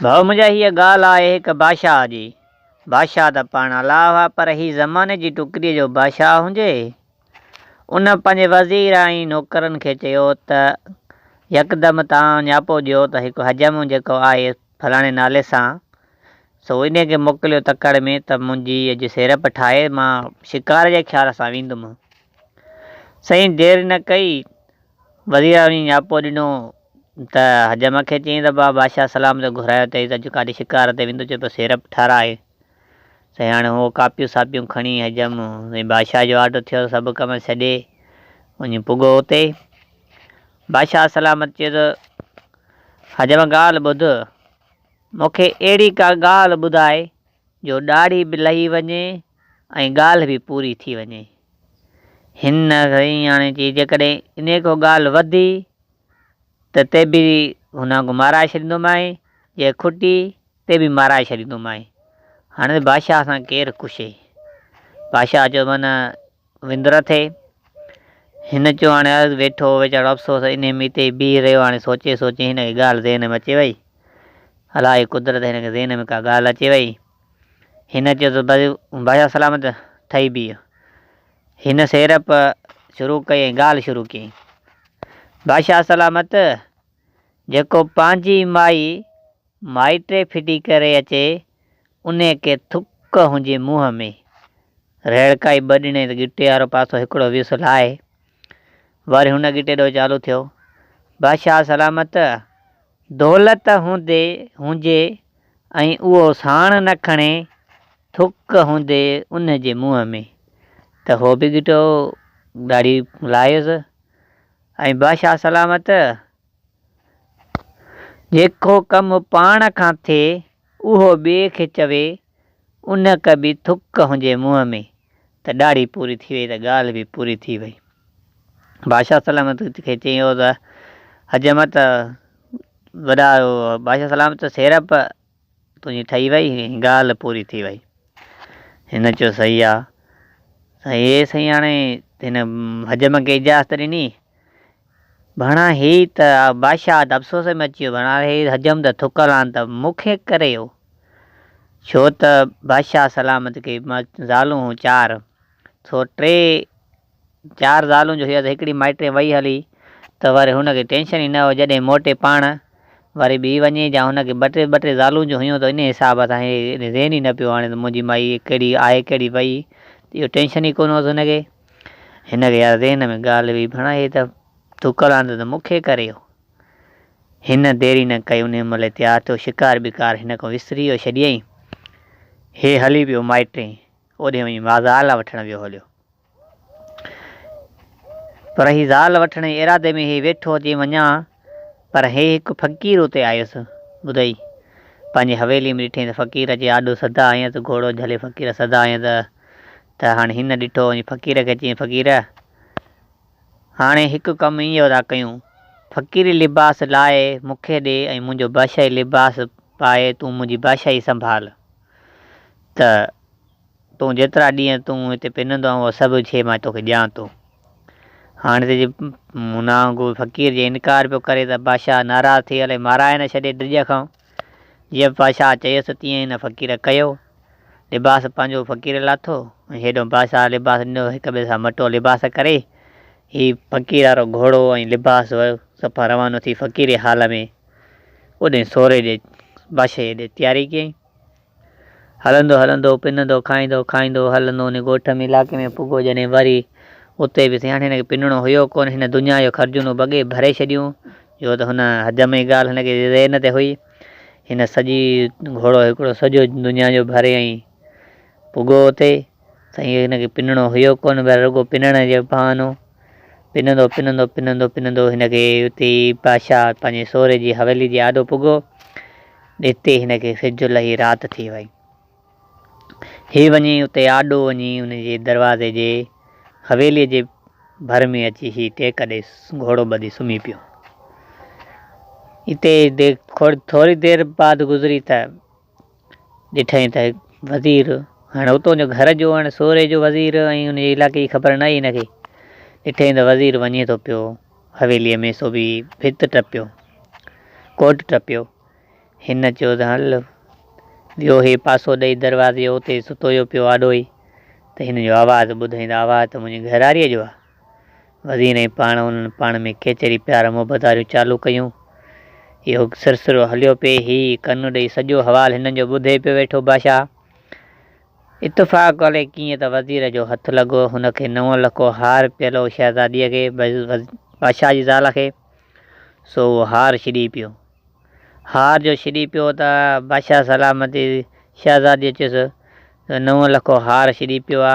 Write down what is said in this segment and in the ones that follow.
ڀائو منهنجا هيء ڳالهه آهي هڪ بادشاهه جي. بادشاهه ته پاڻ الله هئا پر هي زماني جي ٽڪريء جو بادشاهه هجي. ان پنهنجي وزير ۽ نوڪرن کي چيو ته يڪدم تان نياپو ڏيو ته هڪ حجم جيڪو آهي فلاڻي نالي سان سو انهيء کي موڪليو تڪڙ ۾ ته منهنجي اڄ سيرپ ٺاهي مان شڪار جي خيال سان ويندم. سائين دير نه ڪئي وزير اعظم جي نياپو ڏنو ته حجم کي چئين ته بابا بادشاهه سلام تي گهرايو اٿئي ته اڄ ڪاڏي شڪار تي ويندو چوٿو سيرپ ٺاراهه سائين هاڻي هو ڪاپيون ساپيون کڻي حجم سائين بادشاهه جو آرڊر ٿيو ته سڀ ڪم ڇڏي وڃي پڳو اتي بادشاهه سلام تي چيو ته حجم ڳالهه ٻڌ مونکي اهڙي ڪا ڳالهه ٻڌائي جو ڏاڙهي به لهي وڃي ۽ ڳالهه به پوري ٿي وڃي. هن سياڻي چي جيڪڏهن انهيء کان ڳالهه وڌي ته تي به هن وانگو مارائي ڇڏيندومانء، جي کٽي تي به مارائي ڇڏيندومانء. هاڻي بادشاهه سان ڪير ڪشي؟ بادشاهه چيو مان نه وندر ٿئي. هن چيو، هاڻي عرض ويٺو ويچارو افسوس انهي ميت ئي بيهي رهيو. هاڻي سوچي سوچي هن کي ڳالهه ذهن ۾ اچي وئي. الاهي قدرت هن کي ذهن ۾ ڪا ڳالهه اچي وئي. هن چيو ته بس بادشاهه سلامت ٿئي بيهه. هن سيرپ شروع ڪئي ۽ ڳالهه شروع ڪيائين. بادشاهه سلامت! جيڪو پنهنجي مائي مائٽ ڦٽي ڪري اچي انهيء کي ٿڪ هنجي منهن ۾، رهڙڪائي ٻه ڏني ته ڳٽي وارو پاسو هڪڙو ويس لاهي، وري هن ڳٽي ڏو چالو ٿيو. بادشاهه سلامت دولت هوندي هنجي ۽ اهو ساڻ نه کڻي ٿڪ هوندي ان جي منهن ۾، ته هو به ڳٽو ڳاڙهي لاهيس ۽ بادشاهه سلامت، جيڪو ڪم پاڻ کان ٿئي اهو ٻئي کي چوي ان ڪي به ٿڪ هجي منهن ۾ ته ڏاڙهي پوري ٿي وئي ته ڳالهه به پوري ٿي وئي. بادشاهه سلامت کي چيو ته حجمت وڏا بادشاهه سلامت سيرپ تنهنجي ٺهي وئي ڳالهه پوري ٿي وئي. هن چيو صحيح آ. سائين اي سائين هاڻي هن حجم کي اجازت ڏني. ڀڻا هي ته بادشاهه ته افسوس ۾ اچي ويو ڀڻا هي حجم ته ٿڪل آهن ته مون کي ڪري هو. ڇو ته بادشاهه سلامت کي زالون هون چار سو ٽي چار زالون جو هيس هڪڙي مائٽري وئي هلي ته وري هن کي ٽينشن ئي نه هو جڏهن موٽي پاڻ وري ٻي وڃي جا هن کي ٻه ٽي ٻه ٽي زالون جو هيون ته انهي حساب سان هي ذهن ئي نه پيو آڻي ته منهنجي مائي ڪهڙي آهي ڪهڙي وئي ته اهو ٽينشن ئي ڪونه هوس هن کي هن کي يار ذهن ۾ ڳالهه هئي ڀيڻا هي ته ٿڪل آندو ته مون کي ڪري هو هن ديري نه ڪئي انهي مهل ئي تيار ٿيو شڪار بڪار هن کان وسري ئي ڇڏيئي هي هلي پيو مائٽري اوڏي وڃي مازال وٺڻ ويو هليو. پر هي زال وٺڻ جي ارادي ۾ هي ويٺو اچي وڃان، پر هي هڪ فقير اتي آيس. ٻڌئي، پنهنجي حويليء ۾ ڏٺئين ته فقير اچي آڏو سڌا آيس، گهوڙو جهلي فقير سڌا آيس، ته هاڻي هن ڏٺو وڃي فقير کي چيائين، فقير! هاڻي هڪ ڪم ايهو ٿا ڪيون، فقيري لباس لاهي مون کي ڏي ۽ منهنجو بادشاهي لباس پائي تون منهنجي بادشاهي سنڀال، ته. تون جيترا ڏينهن تون هتي پنندو آهين اها سڀ شيء مان توکي ڏيان ٿو. هاڻي ته جي منا وانگر فقير جي انڪار پيو ڪري ته بادشاهه ناراض ٿي الائي مارائي نه ڇڏي ڊڄ کان. جيئن بادشاهه چيس ته تيئن ئي هن فقير ڪيو. لباس پنهنجو فقير لاٿو ۽ هيڏهون بادشاهه لباس ڏنو هڪ ٻئي سان مٽو لباس ڪري هي فقير وارو گهوڙو ۽ لباس ويو صفا روانو ٿي فقيري حال ۾ اوڏانهن سوري ڏي بادشاهي ڏي تياري ڪيائين. هلندو هلندو، پنندو، کائيندو کائيندو، هلندو ان ڳوٺ ۾ علائقي ۾ پڳو جڏهن وري اتي به سياڻي هن کي پنڻو هيو ڪونه هن دنيا جو خرجونون بڳي ڀري ڇڏيون جو ته هن حجم جي ڳالهه هن کي ذهن تي هئي هن سڄي گهوڙو هڪڙو سڄو دنيا جو ڀري ۽ پڳو اتي سائين هن کي پنڻو هيو ڪونه پر رڳو پنڻ جو بهانو پنندو پنندو پنندو پنندو هن کي اتي ئي بادشاهه پنهنجي سوري جي حويلي جي آڏو پڳو اتي هن کي سج لهي رات ٿي وئي. هي وڃي اتي آڏو وڃي ان جي دروازي جي حويلي جي ڀر ۾ اچي هي ٽيڪ ڏئي گهوڙو ٻڌي سمهي پيو. اتي ٿوري دير بعد گذري ته ڏٺئين ته وزير، هاڻ اتون جو گهر جو هاڻ سوري جو وزير ۽ ان جي علاقي جي خبر ناهي هن کي. ڏٺئين ته وزير وڃي ٿو پيو، حويليء ۾ سوڀي ڀت ٽپيو، ڪوٽ ٽپيو. هن چيو ته هل، ويو هي پاسو ڏئي دروازي جو اتي ستويو پيو آڏو ئي ته هن جو آواز ٻڌئين ته آواز ته منهنجي گهراريء جو آ. وزير ۽ پاڻ انهن پاڻ ۾ ڪيچري پيار محبت واريون چالون ڪيون. اهو سرسرو هليو پئي. هي ڪن ڏئي سڄو حوال هنن جو ٻڌي پيو ويٺو. باشاه اتفاق ڪلي ڪيئن ته وزير جو هٿ لڳو. هن کي نو لکو هار پيلو شهزاديء کي، باشاه جي زال کي، سو اهو هار ڇڏي پيو. هار جو ڇڏي پيو ته باشاه سلامتي شهزاديء چيس، تو نو لکو هار ڇڏي پيو آ،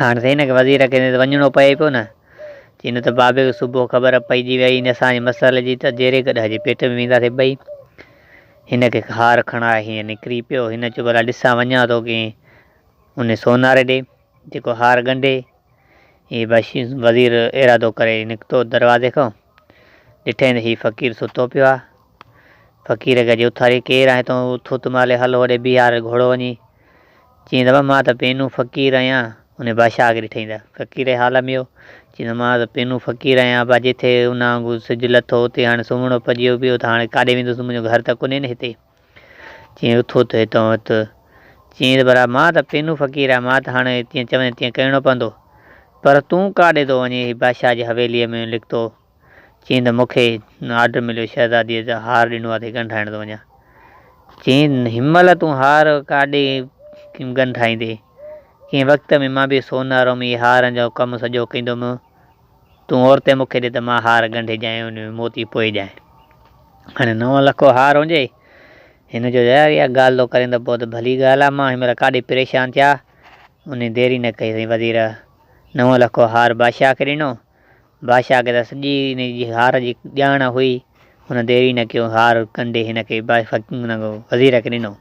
هاڻ سائين هن کي وزير کي ته وڃڻو پئي پيو نه. چي نه ته بابي کي صبح خبر پئجي ويئي نه اسان جي مسئلي جي ته جيري گڏهه جي پيٽ ۾ وينداسين ٻئي. هن کي خار کڻائي هينئن نڪري پيو. هن چيو ڀلا ڏسان وڃان ٿو ڪنهن انهي سوناري ڏي جيڪو هار ڳنڍي. هي وزير ارادو ڪري نڪتو دروازي کان. ڏٺئين ته هي فقير ستو پيو آهي. فقير کي اڄ اٿاري ڪير آهين تون؟ اٿ اٿ مالهي هل هوڏي بيهار گهوڙو وڃي. چيائين ته مان ته پينو فقير آهيان. انهيء بادشاهه کي ڏٺئين ته فقير جي حال ۾هو. چيائين ته مان ته پينو فقير آهيان ابا جتي ان وانگو سج لٿو اتي هاڻي سمهڻو پجيو پيو ته هاڻي ڪاڏي ويندس منهنجو گهر ته ڪونهي نه هتي. چيئي اٿو ته هتان اٿ. چيئي ته برا مان ته پينو فقير آهيان، مان ته هاڻ جيئن چوين تيئن ڪرڻو پوندو. پر تون ڪاڏي ٿو وڃين هي بادشاهه جي حويليء ۾ لڪتو؟ چيئي ته مون کي آرڊر مليو شهزاديء جو هار ڏنو آهي ته هي ڳنڍرائڻ ٿو وڃان. چيئي ته هن مهل تون هار ڪاڏي ڳنڍرائيندين. ڪنهن وقت ۾ مان به سونارو ۾ هارن جو ڪم سڄو ڪندو هيم. تون عورتين مون کي ڏي ته مان هار ڳنڍي ڄائين ۽ ان ۾ موتي پوئي ڄائين. هاڻي نو لکو هار هجي ئي. هن چيو، يار اها ڳالهه ٿو ڪرين ته پوء ته ڀلي ڳالهه آهي، مان هن مهل ڪاڏي پريشان ٿيا. انهي دير ئي نه ڪئي سائين وزير نو لکو هار بادشاهه کي ڏنو. بادشاهه کي ته سڄي ان جي هار جي ڄاڻ هئي. هن دير ئي نه ڪيو هار ڳنڍي هن کي وزير کي ڏنو.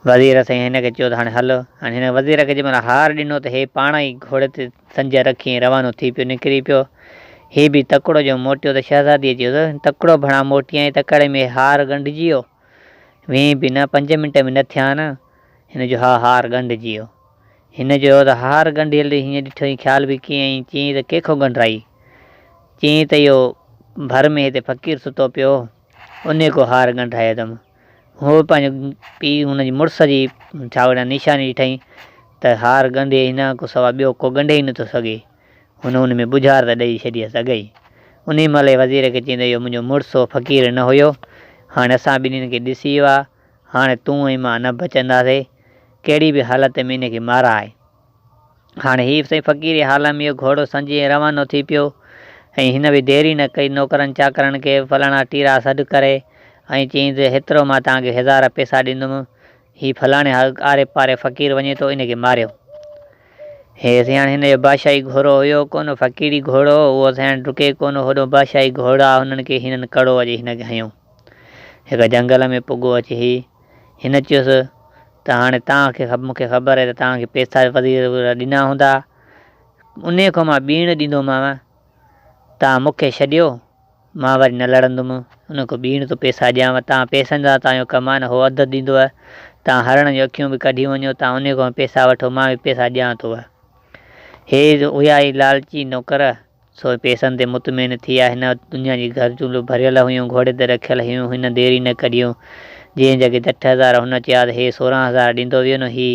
وزير سائين هن کي چيو ته هاڻي هل. هاڻي هن وزير کي جنهن مهل هار ڏنو ته هي پاڻ ئي گهوڙي تي سنجهه رکي ۽ روانو ٿي پيو نڪري پيو. هي به تڪڙو جو موٽيو ته شهزاديء چيس، تڪڙو ڀڻا موٽيائين تڪڙي ۾ هار ڳنڍجي ويو. ويئين به نه، پنج منٽ به نه ٿيا آهن. هن چيو، ها هار ڳنڍجي ويو. هن چيو ته هار ڳنڍيل هينئن ڏٺو هين خيال به ڪيئن ۽ چيئين ته ڪنهن کان ڳنڍرائي؟ چيئين ته اهو ڀر ۾ هتي فقير ستو پيو هو، انهيء ڪو هار ڳنڍرايو اٿم. هو پنهنجو پيء هن جي مڙس جي ڇاوڙيان نيشاني ڏٺائين ته هار ڳنڍي هن کان سواء ٻيو ڪو ڳنڍي ئي نٿو سگهي. هن ان ۾ ٻجهار ته ڏئي ڇڏيس اگهي. انهي مهل ئي وزير کي چئين ته اهو منهنجو مڙس هو فقير نه هيو. هاڻي اسان ٻنهين کي ڏسي ويو آهي. هاڻي تون ۽ مان نه بچنداسين. ڪهڙي به حالت ۾ ان کي مارائي. هاڻي هيف سائين فقيري حال ۾ اهو گهوڙو سنجهي ۽ روانو ٿي پيو ۽ هن به دير ئي نه ڪئي نوڪرن چاڪرن کي فلاڻا ٽيرا سڏ ڪري ۽ چيائين ته هيترو مان توهان کي هزار پئسا ڏيندم هي فلاڻي آري پاري فقير وڃي ٿو ان کي ماريو. هي سياڻ هن جو بادشاهي گهوڙو هيو ڪونه فقيري گهوڙو اهو سياڻ ڊڪي ڪونه هوڏو بادشاهي گهوڙا هنن کي هنن ڪڙو اچي هن کي هنيو هڪ جهنگل ۾ پڳو اچي هي هن چيس ته هاڻي توهان کي مون کي خبر آهي ته توهان کي پيسا به وزير وغيره ڏنا هوندا، انهي کان مان ٻيڻ ڏيندومانء، توهان مون کي ڇڏيو، مان وري نه لڙندم، انهي کان ٻيڻ ٿو پيسا ڏيانء، توهان پيسن سان توهان جو ڪم آهي نه هو اڌ اڌ ڏيندوء، توهان هرڻ جون اکيون به ڪڍي وڃو، توهان انهي کان پيسا وٺو، مان به پيسا ڏيان ٿوء. هي هيا ئي لالچي نوڪر! سوء پيسن تي مطمئن ٿي آ هن وٽ دنيا جي گهرجون به ڀريل هيون گهوڙي تي رکيل هيون هن دير ئي نه ڪڍيون جنهن جڳهه جٺ هزار هن چيا ته هي سورهن هزار ڏيندو ويو نه هي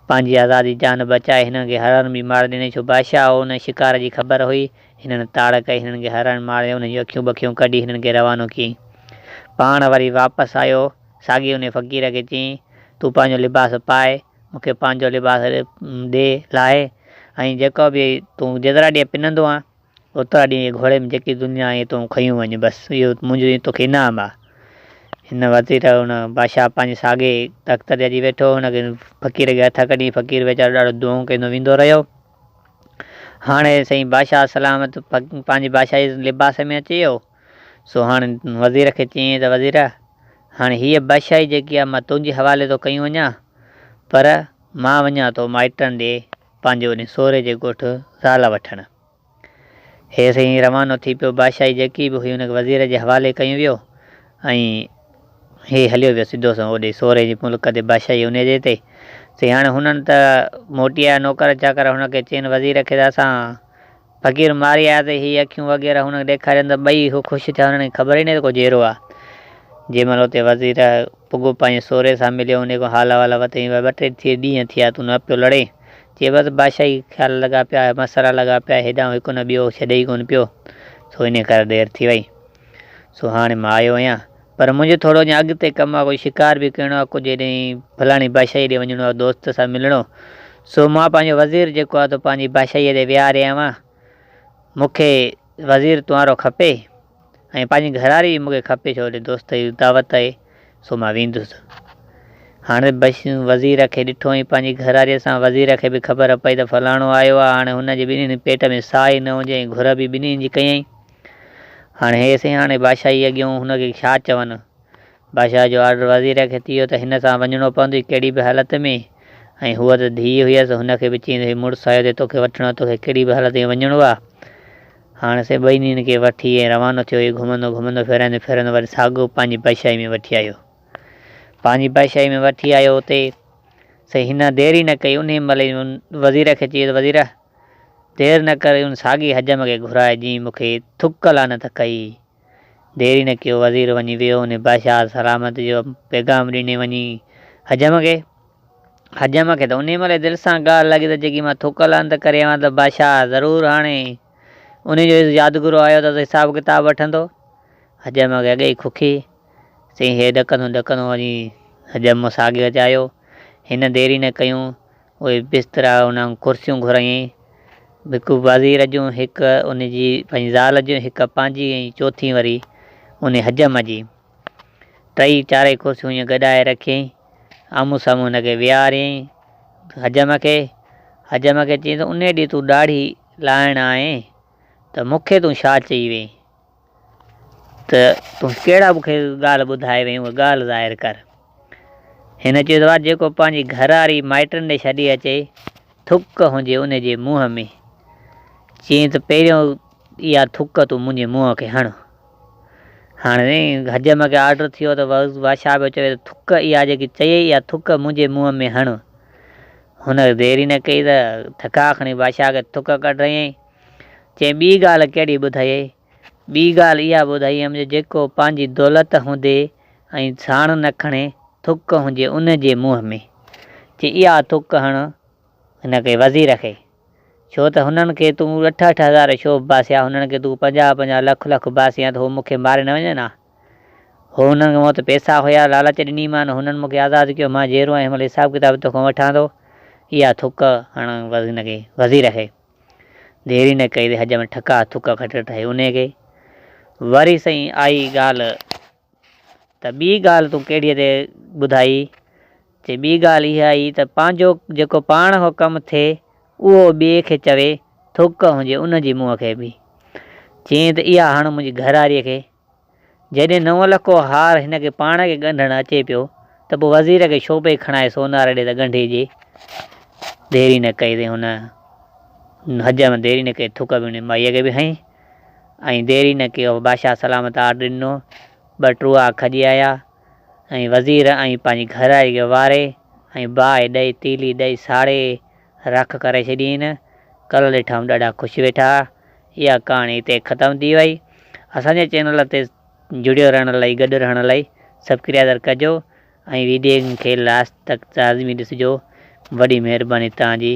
پنهنجي آزادي جان بچائي هنن کي هرڻ به مار ڏني ڇو بادشاهه هو هن شڪار جي خبر هئي هنن تاڙ ڪئي هنن کي هرڻ ماريو انهن جون اکيون بکيون ڪڍي هنن کي روانو ڪيئين پاڻ وري واپس آيو ساڳي انهي فقير کي چيئين تون پنهنجو لباس پائي مون کي پنهنجو لباس ڏي لاهي ۽ جيڪو به تون جيترا ڏينهن پنندو آهين اوترا ڏينهن هيء گهوڙي ۾ جيڪي دنيا آهي تون کنيون وڃ بس اهو منهنجو تو کي انعام آهي. هن وزير هن بادشاهه پنهنجي ساڳئي تخت تي اچي ويٺو هو. هن فقير کي هٿ ڪڍي فقير ويچارو ڏاڍو دونهون ڪندو ويندو رهيو. هاڻي سائين بادشاهه سلامت پنهنجي بادشاهي لباس ۾ اچي ويو. سو هاڻ وزير کي چيائين ته وزيرا! هاڻ هيء بادشاهي جيڪي آهي مان تنهنجي حوالي ٿو ڪيون وڃان، پر مان وڃان ٿو مائٽن ڏي پنهنجي انهي سوري جي ڳوٺ زال وٺڻ. هيء سائين روانو ٿي پيو، بادشاهي جيڪي به هئي ان کي وزير جي حوالي ڪيون ويو ۽ هيء هليو ويو سڌو سنئون اوڏي سوري جي ملڪ تي بادشاهي انهي جي تي. سائين هاڻ هنن ته موٽي آيا نوڪر چاڪر هن کي چين وزير کي ته اسان فقير ماري آيا ته هي اکيون وغيره هن کي ڏيکاريون ته ٻئي هو خوش ٿيا هنن کي خبر ئي ناهي ته ڪو جيئرو آ. جنهن مهل اتي وزير پڳو پنهنجي سوري سان مليو انهي کان حال احوال وتين ٻه ٽي ڏينهن ٿيا تون نه پيو لڙين چي بس بادشاهي کي خيال لڳا پيا مسئلا لڳا پيا هيڏانهن هڪ نه ٻيو ڇڏي ئي ڪونه پيو سو انهي ڪري دير ٿي وئي. سو هاڻي مان آيو آهيان. پر منهنجو ٿورو اڃا اڳتي ڪم آهي. ڪجهه شڪار به ڪرڻو آهي. ڪجهه هيڏانهن فلاڻي بادشاهيء ڏي وڃڻو آهي، دوست سان ملڻو. سو مان پنهنجو وزير جيڪو آهي، سو پنهنجي بادشاهيء تي ويهاري آيو آهيان. مون کي وزير تنهارو کپي ۽ پنهنجي گهراڙي به مون کي کپي، ڇو هيڏي دوستائيء جي دعوت آهي. سو مان ويندس. هاڻي وزير کي ڏٺو ۽ پنهنجي گهراڙيء سان وزير کي به خبر پئي ته فلاڻو آيو آهي. هاڻي هن جي ٻنهي پيٽ ۾ ساهه ئي نه هجي ۽ گهر به ٻنهي جي ڪيائين. هاڻي هي سياڻي بادشاهي اڳيون هن کي ڇا چون؟ بادشاهه جو آرڊر وزير کي ٿيو ته هن سان وڃڻو پوندو ئي ڪهڙي به حالت ۾ ۽ هوء ته ڌيء هيس هن کي به چيندي هئي مڙس آيو اٿئي توکي وٺڻ توکي ڪهڙي به حالت ۾ وڃڻو آ هاڻ سي ٻنهين کي وٺي ۽ روانو ٿيو هي گهمندو گهمندو ڦيرائيندو ڦيرائيندو وري ساڳو پنهنجي بادشاهي ۾ وٺي آيو پنهنجي بادشاهي ۾ وٺي آيو اتي سي هن دير ئي نه ڪئي انهي مهل ئي وزير کي چيس وزير! دير نه ڪر ان ساڳي حجم کي گهراء جنهن مون کي ٿڪ لعنت ڪئي. دير ئي نه ڪيو وزير وڃي ويو ان باشاد سلامت جو پيغام ڏني وڃي حجم کي. حجم کي ته انهي مهل ئي دل سان ڳالهه لڳي ته جيڪي مان ٿڪ لعنت ڪري آيو آهيان ته باشاد ضرور هاڻي انهي جو يادگرو آيو ته حساب ڪتاب وٺندو. حجم کي اڳي ئي کوکي سين هي ڏڪندو ڏڪندو وڃي حجم مون ساڳي وچ آيو. هن ديري نه ڪيون اهي بسترا انهن ڪرسيون گهرائين، هڪ وزير جون، هڪ ان جي پنهنجي زال جون، هڪ پنهنجي ۽ چوٿين وري ان حجم جي. ٽئي چارئي ڪرسيون ائين گڏائي رکيائين، آمهون سامهون هن کي ويهاريائين، حجم کي، حجم کي چيائين ته انهي ڏينهن تون ڏاڙهي لاهڻ آئين ته مون کي تون شاهه چئي وئين. ته تون ڪهڙا مون کي ڳالهه ٻڌائي وئين اهي ڳالهه ظاهر ڪر. هن چيو ته واهه جيڪو پنهنجي گهرواري مائٽن ڏي ڇڏي اچي ٿڪ هجي ان جي منهن ۾ چيائين ته پهريون اها ٿڪ تون منهنجي منهن کي هڻ. هاڻي حجم کي آرڊر ٿيو ته بادشاهه پيو چوي ته ٿڪ اها جيڪي چيئي اها ٿڪ منهنجي منهن ۾ هڻ. هن دير ئي نه ڪئي ته ٿڪا کڻي بادشاهه کي ٿڪ ڪڍرائيائين. چيائين، ٻي ڳالهه ڪهڙي ٻڌايئي؟ ٻي ڳالهه اها ٻڌائي هيم جو جيڪو پنهنجي دولت هوندي ۽ ساڻ نه کڻي، ٿڪ هجي ان جي منهن ۾. چي اها ٿڪ هڻ هن کي وزير کي. ڇو ته هنن کي تون اٺ اٺ هزار شو به باسيا، هنن کي تون پنجاهه پنجاهه لک لک باسيان ته هو مون کي ماري نه وڃن ها. هو هنن کي مون وٽ پئسا هيا، لالچ ڏني مان، هنن مون کي آزاد ڪيو، مان جيئرو آهيان، هن مهل حساب ڪتاب تو کان وٺان ٿو. اها ٿڪ هڻ هن کي وزير کي. دير ئي نه ڪئي تي حج ۾ ٺڪا ٿڪ کٽ ٺهي انهي کي وري سائين آئي ڳالهه ته ٻي ڳالهه تون ڪهڙيء تي ٻڌائي؟ چي ٻي ڳالهه اها ئي ته پنهنجو جيڪو پاڻ هو ڪم ٿئي اهو ٻئي کي چوي ٿڪ هجي ان جي منهن کي به چيائين ته اها هڻ منهنجي گهراريء کي جيڏي نو لکو هار هن کي پاڻ کي ڳنڍڻ اچي پيو ته پوء وزير کي ڇو پئي کڻائي سوناري ڏي ته ڳنڍي ڄي. ديري نه ڪئي تي هن حجر ۾ ديري نه ڪئي ٿڪ به هن مائيء کي به هنئي ۽ ديري نه ڪئي هو بادشاهه سلامت آرڊر ڏنو ٻه ٽوئا کڄي آيا ۽ وزير ۽ پنهنجي گهراري کي واري ۽ باهه ڏئي تيلي ڏئي ساڙي رک ڪري ڇڏيئين. ڪل ڏٺائون ڏاڍا خوش ويٺا اها ڪهاڻي هتي ختم ٿي وئي. اسان جي چينل تي جڙيو رهڻ لئي گڏ رهڻ لئي سبڪريادر ڪجو ۽ ويڊين کي لاسٽ تڪ لازمي ڏسجو وڏي مهرباني توهان جي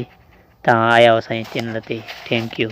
توهان آيا آهيو اسان جي چينل تي ٿينڪ يو.